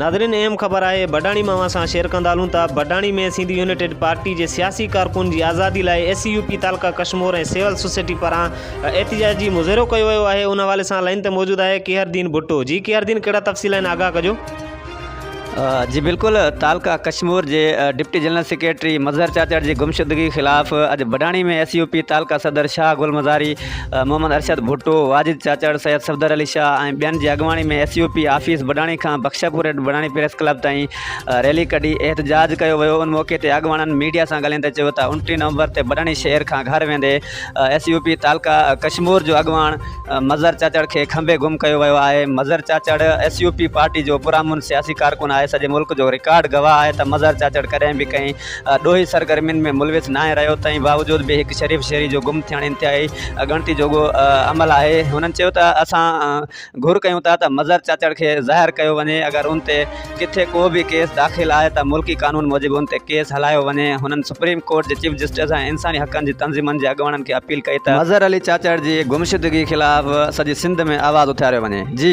ناظرين اهم خبر آهي بڊاڻي مان اوهان سان شيئر ڪندا هلون ٿا بڊاڻي ۾ سنڌ يونيٽيڊ پارٽي جي سياسي ڪارڪن جي آزادي لاء اي سي يو پي تعلقه ڪشمور ۽ سول سوسائٽي پاران احتجاجي مظاهرو ڪيو ويو آهي ان حوالي سان لائين تي موجود آهي ڪيهردين ڀٽو جي ڪيهردين ڪهڙا تفصيل آهن آگاهه ڪجو جي بلڪل تعلقه ڪشمور جي deputy general secretary Mazhar Chachar جي گمشدگي خلاف اڄ بڊاڻي ۾ ايس يو پي تعلقه صدر شاهه گل مزاري محمد ارشد ڀٽو، واجد چاچڙ، سيد صفدر علي شاهه ۽ ٻين جي اڳواڻي ۾ S U P office Badani کان بخشپور ايڊ بڊاڻي پريس ڪلب تائين ريلي ڪڍي احتجاج ڪيو ويو ان موقعي تي اڳواڻن ميڊيا سان ڳالهائيندي چيو ته انٽيهه نومبر تي بڊاڻي شهر کان گهر ويندي ايس يو پي تعلقه ڪشمور جو اڳواڻ مظهر چاچڙ کي کنڀي گم ڪيو ويو آهي Mazhar Chachar S U P party جو پرامن سياسي ڪارڪن آهي سڄي ملڪ جو رڪارڊ گواهه آهي ته مظهر چاچڙ ڪڏهن به ڪنهن ڏوهي سرگرمين ۾ ملوث ناهي رهيو تنهن باوجود به هڪ شريف شهري جو گم ٿيڻ انتهائي اڳڻتي جوڳو عمل آهي هنن چيو ته اسان گهر ڪيون ٿا ته مظهر چاچڙ کي ظاهر ڪيو وڃي اگر ان تي ڪٿي ڪو به ڪيس داخل آهي ته ملڪي قانون موجب ان تي ڪيس هلايو وڃي هنن سپريم ڪورٽ جي چيف جسٽس ۽ انساني حقن جي تنظيمن جي اڳواڻن کي اپيل ڪئي ته مظهر علي چاچڙ جي گمشدگي خلاف سڄي سنڌ ۾ آواز اٿاريو وڃي جي